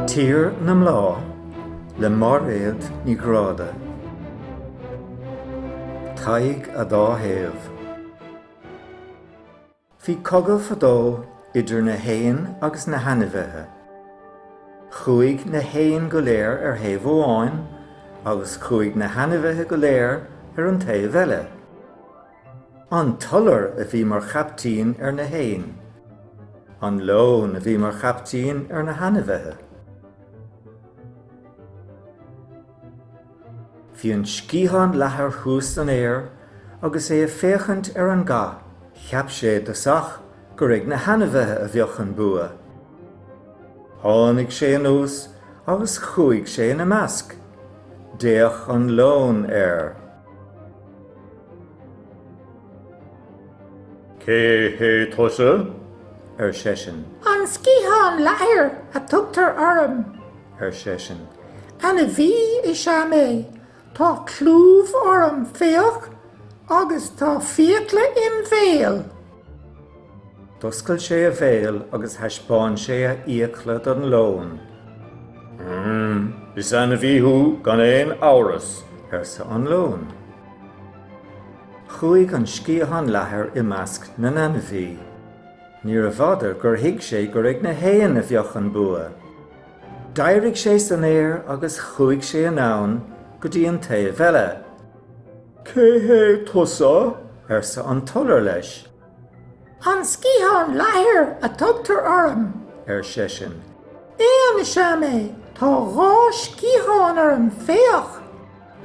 Tír na mBláth le Máiréad Ní Ghráda. Tadhg a Dá Thaobh. Bhí cogadh fadó idir na héin agus na hainmhithe. Chuaigh na héin go léir ar thaobh amháin agus chuaigh na hainmhithe go léir ar an taobh eile. An t-iolar a bhí mar chaiptín ar na héin. An leon a bhí mar chaiptín ar na hainmhithe. Bhí an sciathán leathair thuas san aer agus é ag féachaint ar an gcath, cheap sé i dtosach gur ag na hainmhithe a bheadh an bua. Tháinig sé anuas agus chuaigh sé ina measc. D'fhéach an leon air. Cé hé tusa? ar seisean. An sciathán leathair a tugtar orm. ar seisean. Ainmhí is ea mé. Tá clúmh orm, féach, agus tá fiacla im bhéal. D'oscail sé a bhéal agus thaispeáin sé a fhiacla don leon. Umm, is ainmhí thú gan aon amhras, arsa an leon. Chuaigh an sciathán leathair i measc na n-ainmhí. Níorbh fhada gur thuig sé gur ag na héin a bheadh an bua. D'éirigh sé san aer agus chuaigh sé anonn go dtí an taobh eile. Cé hé tusa? arsa an t-iolar leis. An Sciathán Leathair a tugtar orm, ar seisean. Éan is ea mé. Tá dhá sciathán orm, féach!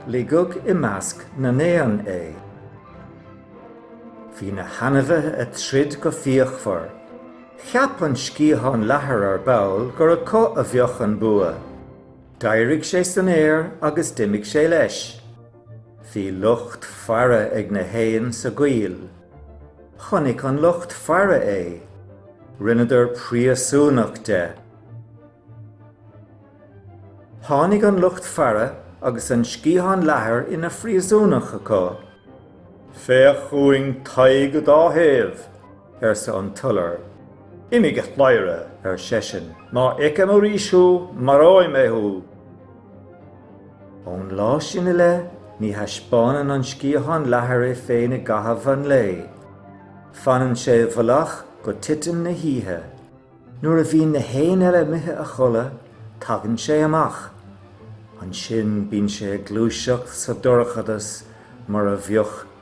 Ligeadh i measc na n-éan é. Bhí na hainmhithe ag troid go fíochmhar. Cheap an sciathán leathair ar ball gur acu a bheadh an bua. D'éirigh sé san aer agus d'imigh sé leis. Bhí lucht faire ag na héin sa gcoill. Chonaic an lucht faire é. Rinneadar príosúnach de. Tháinig an lucht faire agus an sciathán leathair ina phríosúnach acu. Féach chugainn Tadhg a Dá Thaobh! arsa an t-iolar. Imigh a chladhaire! ar seisean, má fheicim arís thú, maróidh mé thú! Ón lá sin i leith, ní thaispeánann an sciathán leathair é féin i gcaitheamh an lae. Fanann sé i bhfolach go titim na hoíche. Nuair a bhíonn na héin eile imithe a chodladh, tagann sé amach. Ansin bíonn sé ag gluaiseacht sa dorchadas mar a bheadh